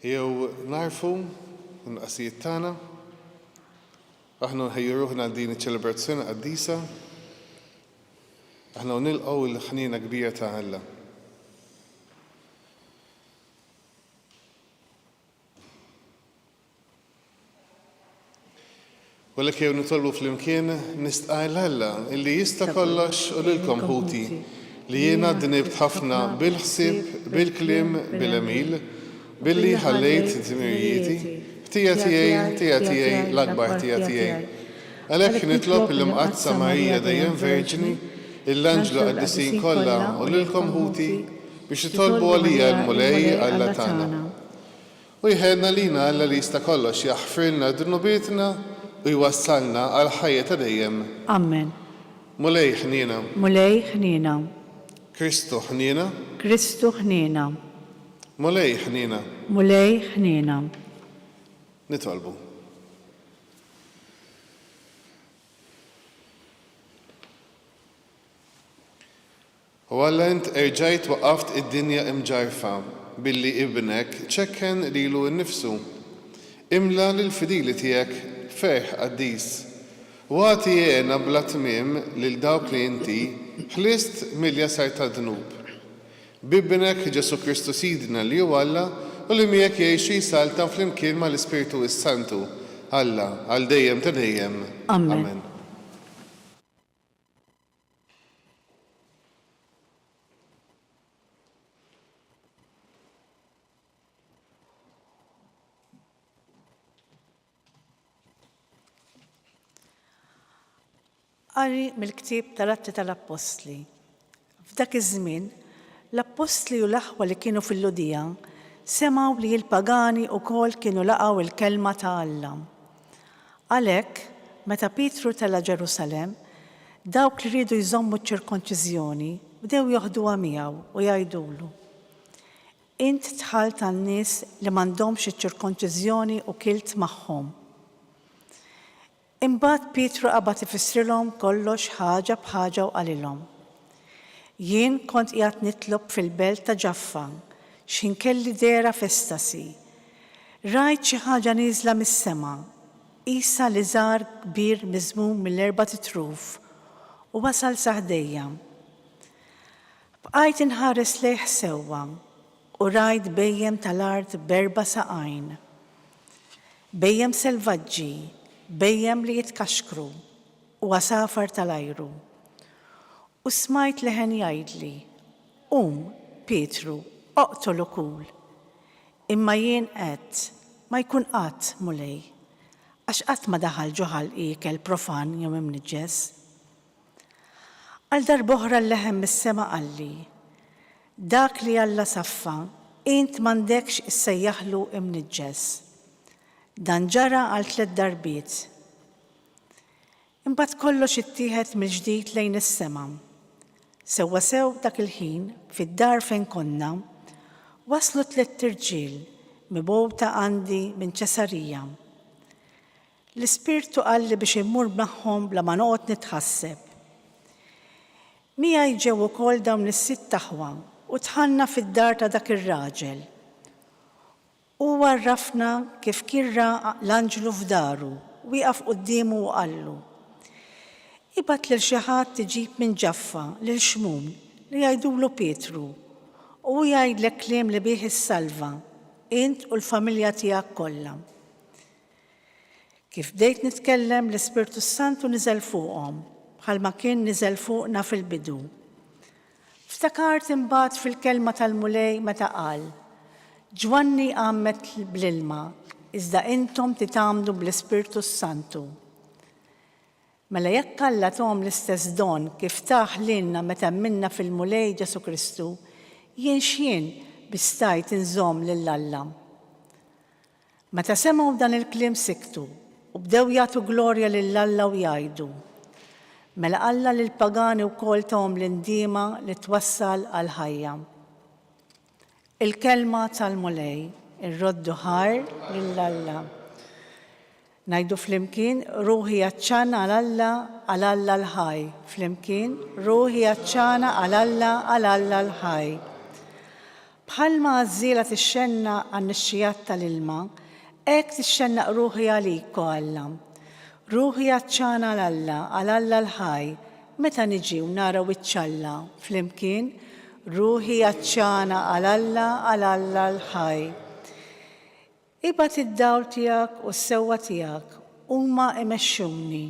Jew nagħrfu n-nuqqasijiet tagħna. Aħna nħejju ruħna għal din iċ-ċelebrazzjoni qaddisa. Aħna nilqgħu l-ħniena kbira ta' Alla. U għalhekk ejjew nitolbu flimkien, nistqajr 'l Alla, li jista' kollox u lilkom ħuti, li jiena dnibt ħafna bil-ħsieb, bil-kliem, bil-għemil, billi ħallejt dmirijieti, ħtija tiegħi, ħtija tiegħi, l-akbar ħtija tiegħi. Għalhekk nitlob lill-Imqaddsa Marija Dejjem Verġni, lill-anġlu qaddisin kollha u lilkom ħuti, biex titolbu għalija lill-Mulej Alla tagħna. U jħeddna lina Alla li jista' kollox jaħfirlna dnubietna u jwassalna għal ħajja ta' dejjem. Ammen. Mulej ħniena. Mulej ħniena. Kristu ħniena. Kristu ħniena. Mulej ħniena. Mulej ħniena. Nitolbu. O Alla int erġajt waqqaft id-dinja imġarrfa billi Ibnek ċekken lilu nnifsu. Imla lill-fidili tiegħek ferħ qaddis, u agħti hena bla tmiem lil dawk li inti ħlist mill-jasar tad-dnub. B'Ibnek, Ġesù Kristu Sidna li hu Alla u li miegħek jgħixu jsaltan flimkien mal-Ispirtu s-Santu, Alla, għal dejjem ta' dejjem. Amen. Qari mill-ktieb tal-Atti tal-Appostli. F'dak iż-żmien, l-appostli u l-aħwa li kienu fil-Lhudija semgħu li l-pagani wkoll kienu laqgħu l-kelma ta' Alla. Għalhekk, meta Pietru tela' Ġerusalemm, dawk li riedu jżommu ċ-ċirkonċiżjoni bdew joħduha miegħu u jgħidulu, Int dħalt għan-nies li m'għandhomx iċ-ċirkonċiżjoni u kilt magħhom. Imbagħad Pietru qabad ifissrilhom kollox ħaġa b'ħaġa u qalilhom, Jien kont qiegħed nitlob fil-belt ta' Ġaffa x'ħin kelli dehra f'estasi. Rajt xi ħaġa nieżla mis-sema, qisha liżar kbir miżmum mill-erbat itruf, u wasal sa ħdejja. Bqajt inħares lejh sewwa, u rajt bhejjem tal-art b'erba' saqajn. Bhejjem selvaġġi, bhejjem li jitkaxkru, u għasafar tal-ajru. U smajt leħen jgħidli, Qum, Pietru, oqtol u kul. Imma jien għedt, Ma jkun qatt, Mulej, għax qatt ma daħal ġo ħalqi ikel profan jew imniġġes. Għal darb'oħra l-leħen mis-sema qalli, Dak li Alla saffa, int m'għandekx issejjaħlu imniġġes. Dan ġara għal tliet darbiet. Imbagħad kollox ittieħed mill-ġdid lejn is-sema. Sewwasew dak il-ħin, fid-dar fejn konna, waslu tliet irġiel mibgħuta għandi minn Ċesarija. L-Ispirtu qalli biex immur magħhom bla ma noqgħod nitħasseb. Miegħi ġew ukoll dawn is-sitt aħwa u dħalna fid-dar ta' dak ir-raġel. Hu għarrafna kif kien ra l-anġlu f'daru wieqaf quddiemu u qallu, Ibgħat lil xi ħadd iġib minn Ġaffa lil Xmun li jgħidulu Pietru, u hu jgħidlek kliem li bih issalva, int u l-familja tiegħek kollha. Kif bdejt nitkellem, l-Ispirtu s-Santu niżel fuqhom, bħalma kien niżel fuqna fil-bidu. Ftakart imbagħad fil-kelma tal-Mulej meta qal, Ġwanni għammed bl-ilma, iżda intom titgħammdu bl-Ispirtu s-Santu. Mela jekk Alla thom l-istess don kif tah lilna meta mminna fil-Mulej Ġesù Kristu, jien x'jien biex stajt inżomm lil Alla? Meta semgħu dan il-kliem siktu, u bdew jagħtu glorja lil Alla u jgħidu, Mela Alla lill-pagani wkoll tahom l-indiema li twassal għall-ħajja. Il-Kelma tal-Mulej. Irroddu ħajr lil Alla. Ngħidu flimkien, Ruħi għatxana għal Alla, għal Alla l-ħaj. Flimkien, Ruħi għatxana għal Alla, għal Alla l-ħaj. Bħalma għażżiela tixxennaq għan-nixxigħat tal-ilma, hekk tixxennaq ruħi għalik, o Alla. Ruħi għatxana għal Alla, għal Alla l-ħaj, meta niġi u nara wiċċ Alla. Flimkien, Ruħi għatxana għal Alla, għal Alla l-ħaj. Ibgħat id-dawl tiegħek u s-sewwa tiegħek, huma imexxuni.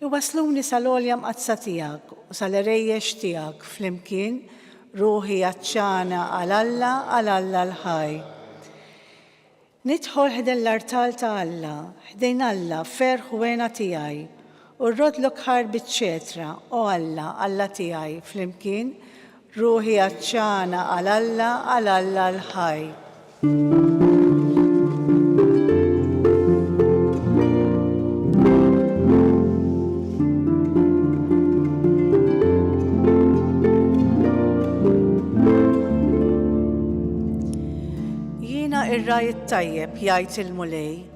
Iwassluni sal-għolja mqaddsa tiegħek u sal-għerejjex tiegħek flimkien, ruħi għatxana għal Alla, għal Alla l-ħaj. Nidħol ħdejn l-artal ta' Alla, ħdejn Alla, ferħ u hena tiegħi, u rroddlok ħarbi ċ-ċetra, o Alla, Alla tiegħi, flimkien, Ruħi għatxana għal Alla, għal Alla l-ħaj. Jiena ir-ragħaj it-tajjeb, jgħid il-Mulej.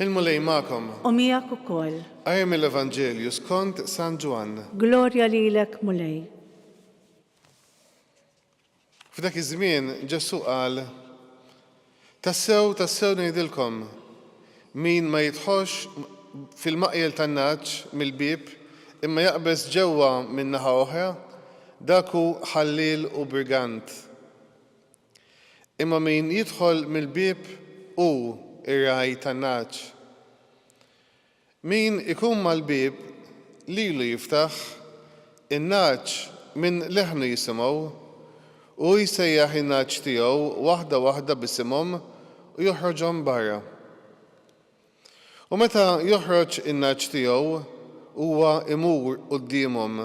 Il-Mulej magħkom. U miegħek ukoll. Qari mill-Evanġelju skont San Ġwann. Glorja lilek, Mulej. F'dak iż-żmien Ġesù qal, Tassew, tassew ngħidilkom, min ma jidħolx fil-maqjel tan-nagħaġ mill-bieb imma jaqbeż ġewwa min-naħa oħra, dak hu ħalliel u brigant. Imma min jidħol mill-bieb hu r-ragħaj tan-nagħaġ. Min ikun mal-bieb, lilu jiftaħ, in-nagħaġ minn leħnu jisimgħu, u hu jsejjaħ in-nagħaġ tiegħu waħda waħda b'isimhom u joħroġhom barra. U meta joħroġ in-nagħaġ tiegħu, huwa imur quddiemhom,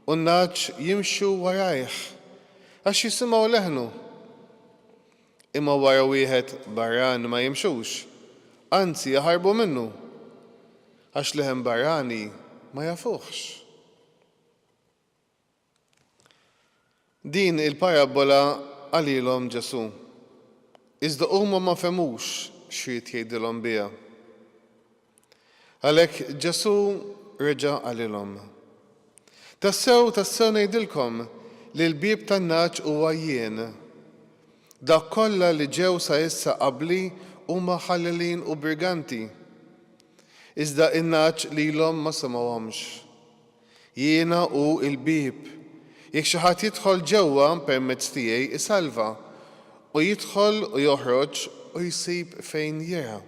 u n-nagħaġ jimxu warajh, għax jisimgħu leħnu. Imma wara wieħed barran ma jimxux, anzi jaħarbu minnu, għax leħen barrani ma jafuhx. Din il-parabbola qalilhom Ġesù, iżda huma ma fehmux x'ried jgħidilhom biha. Għalhekk Ġesù reġa' qalilhom, Tassew, tassew ngħidilkom li l-bieb tan-nagħaġ huwa jien. Dawk kollha li ġew sa issa qabli huma ħallelin u briganti, iżda n-nagħaġ lilhom ma semgħuhomx. Jiena hu l-bieb. Jekk xi ħadd jidħol ġewwa permezz tiegħi isalva, u jidħol u joħroġ u jsib fejn jirgħa.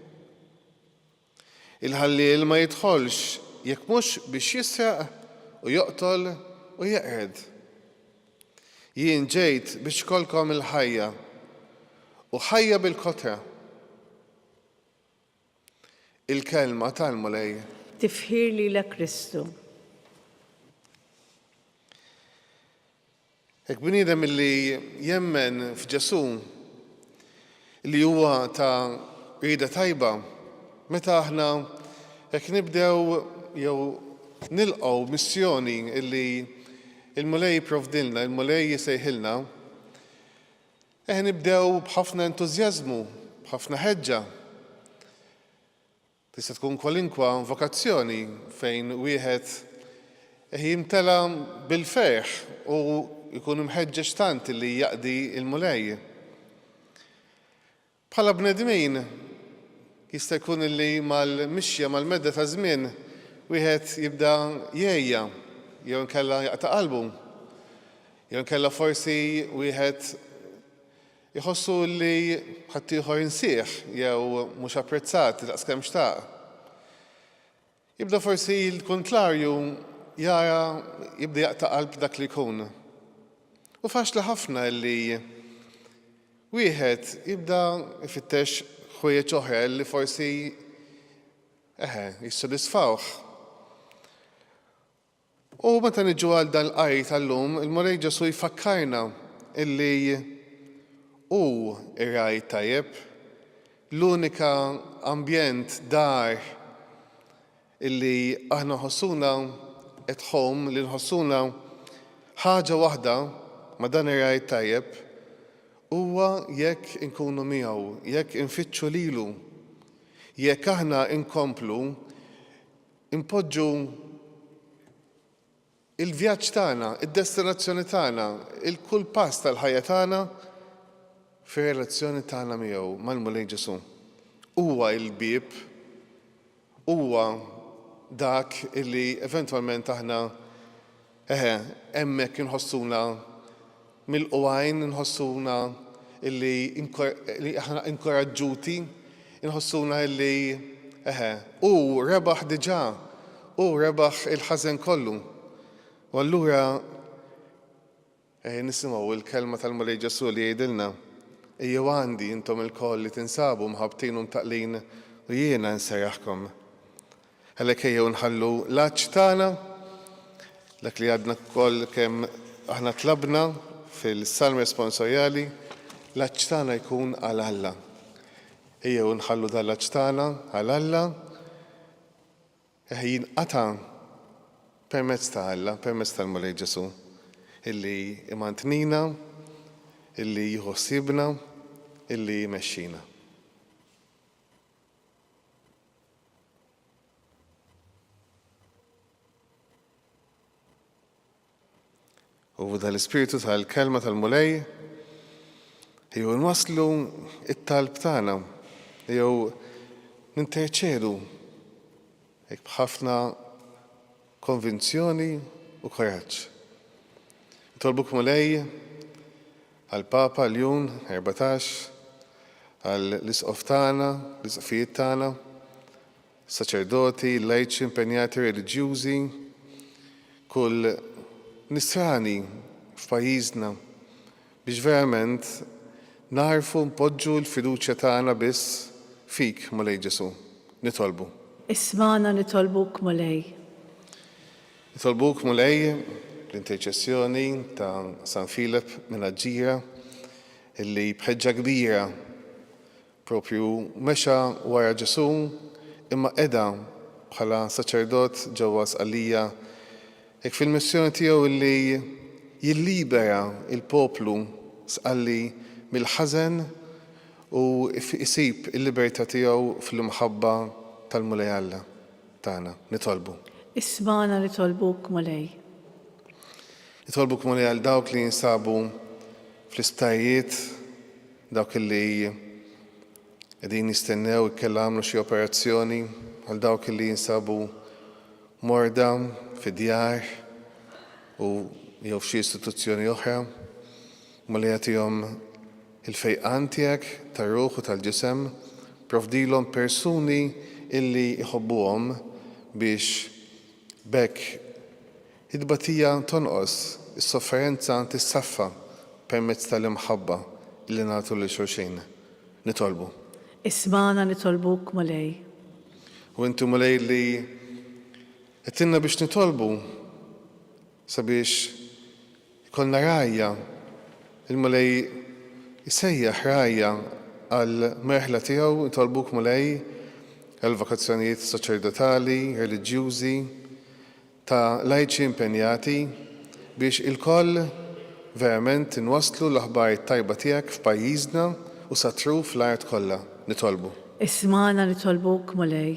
Il-ħalliel ma jidħolx jekk mhux biex jisraq u joqtol u jeqred. Jien ġejt biex ikollkom il-ħajja, u ħajja bil-kotra. Il-Kelma tal-Mulej. Tifħir lilek Kristu. Hekk bniedem illi jemmen f'Ġesù li huwa ta' rieda tajba meta aħna hekk nibdew jew nilqgħu missjoni illi il-Mulej jipprovdilna, il-Mulej jisejħilna, Eħe nibdew b'ħafna entużjażmu, b'ħafna ħeġġa. Tista' tkun kwalinkwa vokazzjoni fejn wieħed eħe jimtela bil-ferħ u jkun imħeġġeġ tant li jaqdi l-Mulej. Bħala bnedmin, jista' jkun li mal-mixja, mal-medda taż-żmien, wieħed jibda jgħejja jew inkella jaqta' qalbu. Jew inkella forsi wieħed iħossu li ħaddieħor insieħ jew mhux apprezzat daqskemm xtaq. Jibda forsi l-kuntlarju jara jibda jaqta' qalb dak li jkun. U faċli ħafna li wieħed jibda jfittex ħwejjeġ oħra li forsi eħe jissodisfawh. U meta niġu għal dal-qari tal-lum, il-Mulej Ġesù jfakkarna illi Hu r-Ragħaj t-Tajjeb, l-unika ambjent, dar, illi aħna nħossuna at home, li nħossuna ħaġa waħda ma' dan ir-Ragħaj t-Tajjeb, huwa jekk inkunu miegħu, jekk infittxu lilu, jekk aħna nkomplu Inpoġġu l-vjaġġ tagħna, id-destinazzjoni tagħna, il-kull pass tal-ħajja tagħna fir-relazzjoni tagħna miegħu, mal-Mulej Ġesù. Huwa l-bieb, huwa dak li eventwalment aħna Eħe, hemmhekk inħossuna milqugħin, inħossuna illi aħna inkoraġġuti, inħossuna illi, eħe, hu rebaħ diġà, hu rebaħ il-ħażen kollu. U allura Ejja nisimgħu l-kelma tal-Mulej Ġesù li jgħidilna, Ejjew għandi, intom ilkoll li tinsabu mħabbtin u mtaqqlin, u jiena nsejjaħkom. Għalhekk ejjew nħallu l-għatx tagħna, dak li għadna wkoll kemm aħna tlabna fil-Salm Responsoriali, l-għatx tagħna jkun għal Alla. Ejjew nħallu dan l-għatx tagħna għal Alla, Eħe jinqata' permezz ta' Alla, permezz tal-Mulej Ġesù, illi imantnina, illi jieħu ħsiebna, illi jmexxina. U tal-Ispirtu tal-Kelma tal-Mulej jew nwasslu it-talb tagħna jew ninterċedu hekk b'ħafna konvinzjoni u koraġġ. Nitolbuk Mulej għall-Papa Ljun 14 għall-Isqof tagħna, l-Isqfijiet tagħna, Saċerdoti, lajċi, impenjati reliġjużi, kull Nisrani f'pajjiżna, biex verament nagħrfu npoġġu l-fiduċja tagħna biss fik, Mulej Ġesù. Nitolbu. Ismagħna nitolbuk, Mulej. Nitolbuk, Mulej, bl-interċessjoni ta' San Filep minn Aġġira, illi b'ħeġġa kbira Proprju mexa wara Ġesù, imma qeda bħala saċerdot ġewwa Sqallija, hekk fil-missjoni tiegħu illi jillibera l-poplu Sqalli mill-ħażen u jsib il-libertà tiegħu fl-imħabba tal-Mulej Alla tagħna. Nitolbu. Ismagħna nitolbuk, Mulej. Nitolbuk, Mulej, għal dawk li jinsabu fl-isptarijiet. Dawk li qegħdin jistennew ikkella għamlu xi operazzjoni għal dawk li jinsabu morda fi djar u jew f'xi istituzzjoni oħra. Mulej jagħtihom il-fejqan tiegħek tar-ruħ u tal-ġisem. Provdilhom persuni illi jħobbuhom biex b'hekk It-tbatija tonqos, is-sofferenza tissaffa permezz tal-imħabba li nagħtu lil xulxin. Nitolbu. Ismagħna nitolbuk, Mulej. U inti, Mulej, li għedtilna biex nitolbu sabiex ikollna rgħajja, il-Mulej isejjaħ rgħajja għall-merħla tiegħu, nitolbuk, Mulej, għall-vokazzjonijiet saċerdotali, reliġjużi, ta' lajċi impenjati biex ilkoll verament inwasslu l-aħbar it-tajba tiegħek f'pajjiżna u sat-truf l-art kollha. Nitolbu. Ismagħna nitolbuk, Mulej.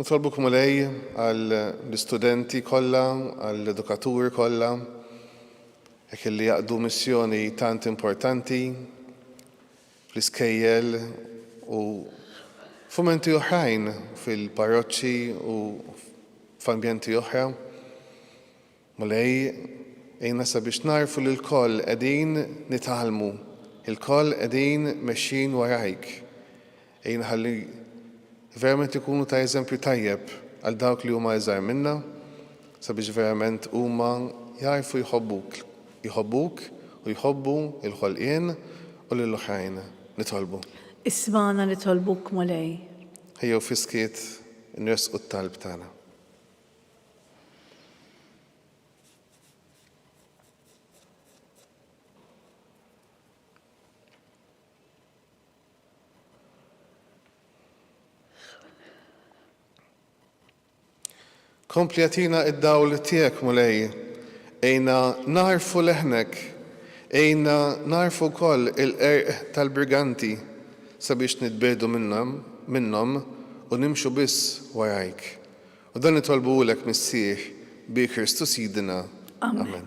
Nitolbuk, Mulej, għall-istudenti kollha, għall-edukaturi kollha, hekk illi jaqdu missjoni tant importanti fl-iskejjel u f'mumenti oħrajn fil-parroċċi u f'ambjenti oħra. Mulej, għinna sabiex nagħrfu li lkoll qegħdin nitgħallmu, ilkoll qegħdin mexjin warajk. Għinna ħalli verament ikunu ta' eżempju tajjeb għal dawk li huma iżgħar minna, sabiex verament huma jagħrfu jħobbuk. Jħobbuk u jħobbu l-ħolqien u lil oħrajn. Nitolbu. Ismagħna nitolbuk, Mulej. Ejjew fis-skiet inressqu t-talb tagħna. Kompli agħtina id-dawl tiegħek, Mulej. Għinna nagħrfu leħnek. Għinna nagħrfu wkoll il-qerq tal-briganti sabiex nitbiegħdu minnhom u nimxu biss warajk. U dan nitolbuhulek, Missier, bi Kristu Sidina. Amen.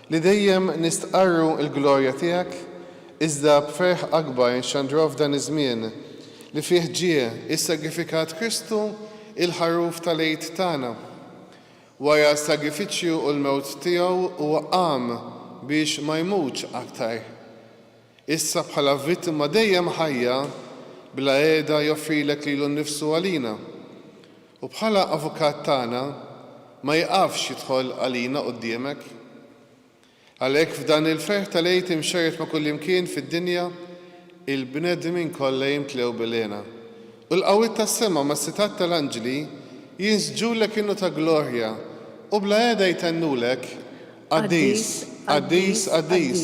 Li dejjem nistqarru l-glorja tiegħek, iżda b'ferħ akbar inxandruha f'dan iż-żmien li fih ġie ssagrifikat Kristu, il-Ħaruf tal-Għid tagħna. Wara s-sagrifiċċju u l-mewt tiegħu huwa qam biex ma jmutx aktar. Issa bħala vittma dejjem ħajja bla qiegħda joffrilek lilu nnifsu għalina. U bħala Avukat tagħna ma jiqafx jidħol għalina quddiemek. Għalhekk f'dan il-ferħ tal-Għid imxerred ma' kullimkien fid-dinja, il-bnedmin kollha jimtlew bil-hena, u l-qawwiet tas-sema mas-setgħat tal-anġli jinsġulek innu ta' glorja u bla heda jtennulek, Qaddis, qaddis, qaddis,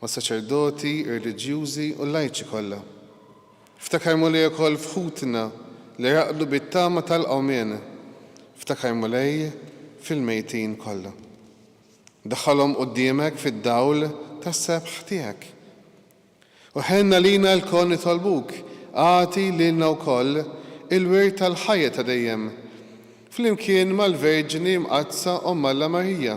mas-saċerdoti, ir-reliġjużi u l-lajċi kollha. Ftakar, Mulej, ukoll f'ħutna li raqdu bit-tama tal-qawmien. Ftakar, Mulej, fil-mejtin kollha. Daħħalhom quddiemek fid-dawl tas-sebħ tiegħek. U ħenn għalina lkoll nitolbuk, agħti lilna wkoll il-wirt tal-ħajja ta' dejjem, flimkien mal-Verġni Mqaddsa Omm Alla Marija.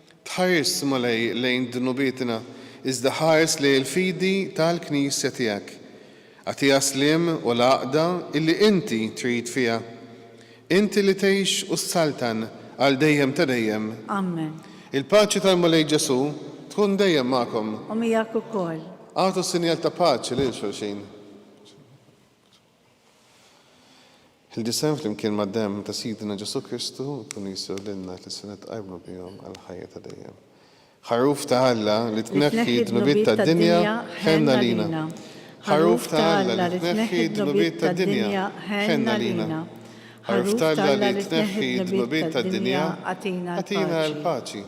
Tħarisx Mulej lejn dnubietna, iżda ħares lejn il-fidi tal-Knisja tiegħek. Agħtiha s-sliem u l-għaqda illi inti trid fiha. Inti li tgħix u ssaltan għal dejjem ta' dejjem. Amen. Il-paċi tal-Mulej Ġesù tkun dejjem magħkom. U miegħek ukoll. Agħtu sinjal ta' paċi lil xulxin. Il-ġisem flimkien mad-demm ta' Sidna Ġesù Kristu jkunu jistgħu lilna li se nitqajmu bihom għall-ħajja ta' dejjem. Ħaruf ta' Alla li tneħħi d-dnubiet tad-dinja, ħenna lina. Ħaruf ta' Alla li tneħħi d-dnubiet tad-dinja, ħenna lina. Ħaruf ta' Alla li tneħħi d-dnubiet tad-dinja, agħtina l-paċi.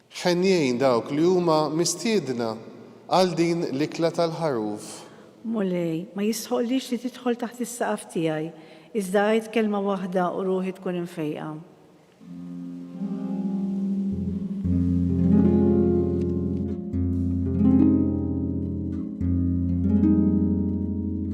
Ħenjin dawk li huma mistiedna għal din l-ikla tal-Ħaruf. Mulej, ma jistħoqqlix li tidħol taħt is-saqaf tiegħi, iżda għid kelma waħda u ruħi tkun imfejqa.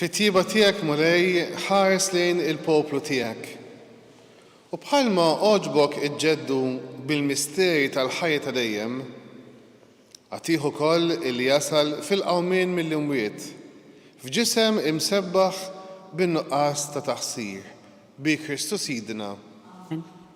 Fit-tjieba tiegħek, Mulej, ħares lejn il-poplu tiegħek. U bħalma għoġbok iġġeddu bil-misteri tal-ħajja ta' dejjem, agħtih ukoll illi jasal fil-qawmien mill-imwiet, f'ġisem imsebbaħ bin-nuqqas ta' taqsir, bi Kristu Sidna.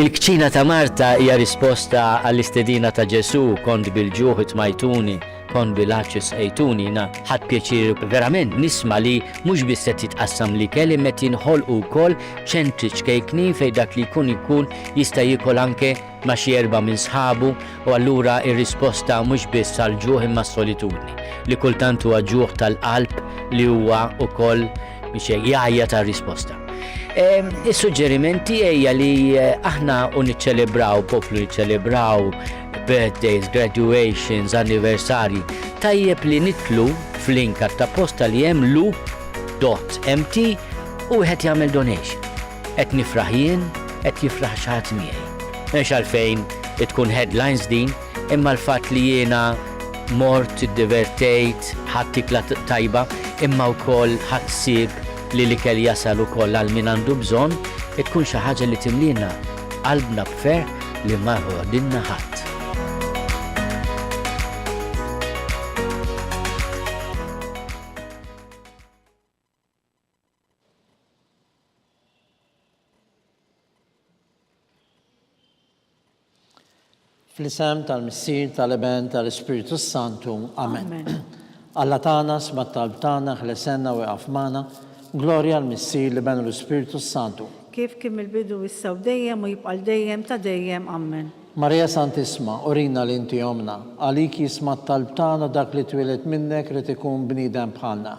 Il-kċina ta' Marta hija risposta għall-istedina ta' Ġesù, Kont bil-ġuħ itmajtuni, kont bil-għatx isqejtuni. Jiena ħadt pjaċir verament nisma' li mhux biss qed jitqassam l-ikel imma qed jinħolqu wkoll ċentri ċkejknin fejn dak li jkun ikun jista' jiekol anke ma' xi erbgħa minn sħabu u allura r-risposta mhux biss għall-ġuħ imma s-solitudni, li kultant huwa ġuħ tal-qalb li huwa wkoll biex hekk jgħajjat għal risposta. Is-suġġeriment tiegħi hija li aħna u niċċelebraw, poplu niċċelebraw birthdays, graduations, anniversarji, tajjeb li nitlu fl-link ta' posta li hemm loop.mt u wieħed jagħmel donation. Qed nifraħ jien, qed jifraħ xi ħadd miegħi. M'hemmx għalfejn tkun headlines din, imma l-fatt li jiena mort, iddivertejt, ħadt ikla tajba, imma wkoll ħadt ħsieb li l-ikel jasal ukoll għal min għandu bżonn, tkun xi ħaġa li timliena qalbna b'ferħ li ma jħoddilna ħadd. Fl-isem tal-Missier, tal-Iben, tal-Ispirtu s-Santu. Amen. Alla tagħna sma' talb tagħna, ħlesenna u iqaf magħna. Glorja l-Missier, l-Iben u l-Ispirtu s-Santu. Kif kien mill-bidu issa u dejjem u jibqa' l dejjem ta' dejjem. Amen. Marija Santissma, urina li inti ommna. Għalik jisma' t-talb tagħna dak li twieled minnek rid ikun bniedem bħalna.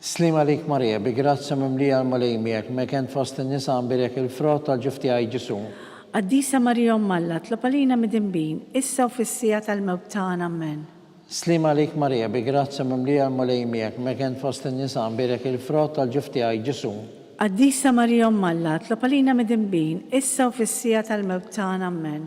Sliem għalik Marija, bi grazzja mimlija l-Mulej miegħek, meken fost in-nisa nbierek il-frott tal-ġuf tiegħi Ġesù. Qaddisa Marija Omm Alla, tlob għalina midinbin, issa u fis-siegħa tal-mewt tagħna. Ammen. Sliem għalik Marija, bi grazzja mimlija l-Mulej miegħek, meken fost in-nisa nbierek il-frott tal-ġuf tiegħi Ġesù. Qaddisa Marija Omm Alla, tlob għalina midinbin, issa u fis-siegħa tal-mewt tagħna. Ammen.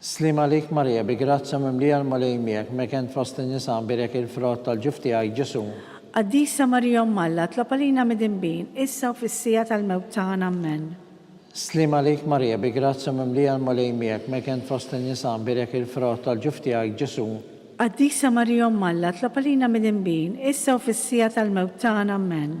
Sliem għalik Marija bi grazzja mimlija l-Mulej miegħek, mekent fost in-nisa nbierek il-frott tal-ġuf tiegħi, Ġesù. Qaddisa Marija Omm Alla, tlob għalina midinbin, issa u fis-siegħa tal-mewt tagħna. Ammen. Sliem għalik Marija bi grazzja mimlija l-Mulej miegħek, mekent fost in-nisa nbierek il-frott tal-ġuf tiegħi, Ġesù. Qaddisa Marija Omm Alla, tlob għalina midinbin, issa u fis-siegħa tal-mewt tagħna. Ammen.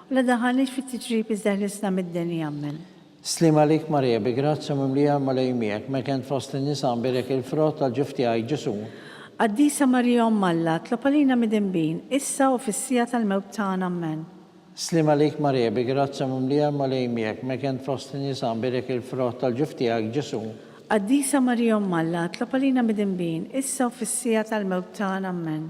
La daħalniex fit-tiġrib iżda ħlisna mid-deni jammen. Sliem għalik Marija bi grazzja mimlija l-Mulej miegħek, meta int fost in-nisa nbierek il-frott tal-ġuf tiegħi, Ġesù. Qaddisa Marija Omm Alla, tlob għalina midinbin, issa u fis-siegħa tal-mewt tagħna. Ammen. Sliem għalik Marija bi grazzja mimlija l-Mulej miegħek, meta int fost in-nisa nbierek il-frott tal-ġuf tiegħek, Ġesù. Qaddisa Marija Omm Alla, tlob għalina midinbin, issa u fis-siegħa tal-mewt tagħna. Ammen.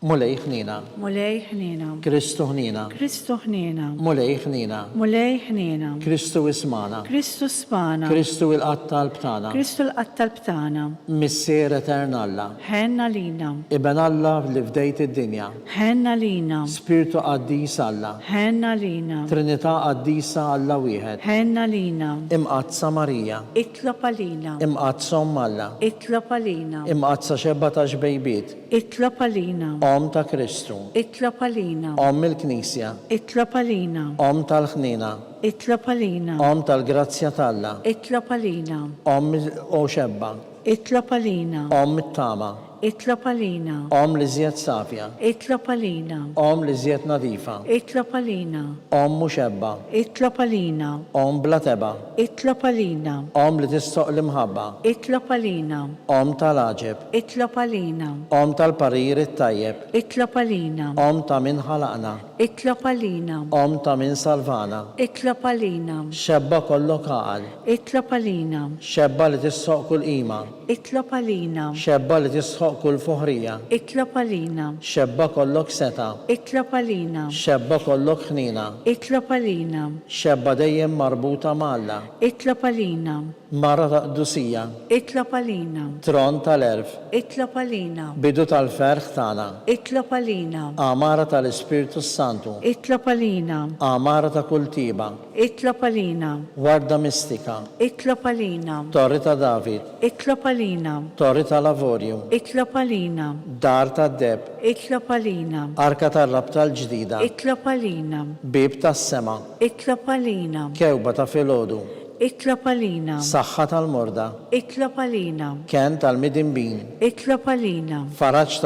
Mulej ħniena. Mulej ħniena. Kristu ħniena. Kristu ħniena. Mulej ħniena. Mulej ħniena. Kristu ismana. Kristu smana. Kristu il-Qatt Talb tagħna. Kristu l-Qatt Talb tagħna. Missier Etern Alla. Ħenn għalina. Iben Alla li fdejt id-dinja. Ħenn għalina. Spirtu Qaddis Alla. Ħenn għalina. Trinità Qaddisa Alla Wieħed. Ħenn għalina. Imqaddsa Marija. Itlob għalina. Imqaddsa Omm Alla. Itlob għalina. Imqaddsa Xebba tax-Xbejbiet. Itlob għalina. Omm ta' Kristu. Itlob għalina. Omm il-Knisja. Itlob għalina. Omm tal-ħniena. Itlob għalina. Omm tal-grazzja t'Alla. Itlob għalina. Omm, o xebba. Itlob għalina. Omm it-tama. Itlob għalina. Omm l-iżjed safja. Itlob għalina. Omm l-iżjed nadifa. Itlob għalina. Omm u xebba. Itlob għalina. Omm bla tebgħa. Itlob għalina. Omm li tistoqq l-imħabba. Itlob għalina. Omm tal-għaġeb. Itlob għalina. Omm tal-parir it-tajjeb. Itlob għalina. Omm ta' min ħalaqna. Itlob għalina. Omm ta' min salvana. Itlob għalina. Xebba kollok għaqal. Itlob għalina. Xebba li tistħoqq kull qima. Itlob għalina. Xebba li tistħoqq kull foħrija. Itlob għalina. Xebba kollok setgħa. Itlob għalina. Xebba kollok ħniena. Itlob għalina. Xebba dejjem marbuta ma' Alla. Itlob għalina. Mara ta' qdusija. Itlob għalina. Tron tal-għerf. Itlob għalina. Bidu tal-ferħ tagħna. Itlob għalina. Għamara tal-Ispirtu s-Santu. Itlob għalina. Għamara ta' kull tjieba. Itlob għalina. Warda mistika. Itlob għalina. Torri ta' David. Itlob għalina. Torri tal-avorju. Itlob għalina. Dar tad-deheb. Itlob għalina. Arka tar-rabta l-ġdida. Itlob għalina. Bieb tas-sema. Itlob għalina. Kewba ta' filgħodu. Itlob għalina. Saħħa tal-morda. Itlob għalina. Kenn tal-midinbin. Itlob għalina. Faraġ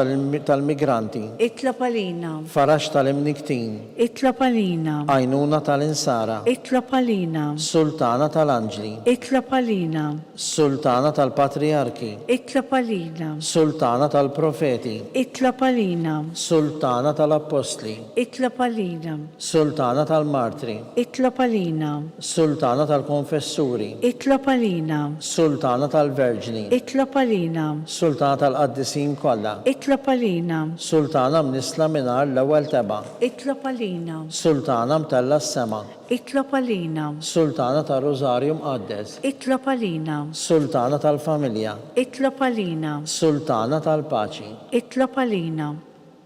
tal-migranti. Itlob għalina. Faraġ tal-imnikktin. Itlob għalina. Għajnuna tal-insara. Itlob għalina. Sultana tal-anġli. Itlob għalina. Sultana tal-patrijarki. Itlob għalina. Sultana tal-profeti. Itlob għalina. Sultana tal-appostli. Itlob għalina. Sultana tal-martri. Itlob għalina. Sultana tal-konfessuri. Itlob għalina. Sultana tal-verġni. Itlob għalina. Sultana tal-qaddisin kollha. Itlob għalina. Sultana mnissla mingħajr l-ewwel tebgħa. Itlob għalina. Sultana mtellgħa s-sema. Itlob għalina. Sultana tar-Rużarju Mqaddes. Itlob għalina. Sultana tal-familja. Itlob għalina. Sultana tal-paċi. Itlob għalina.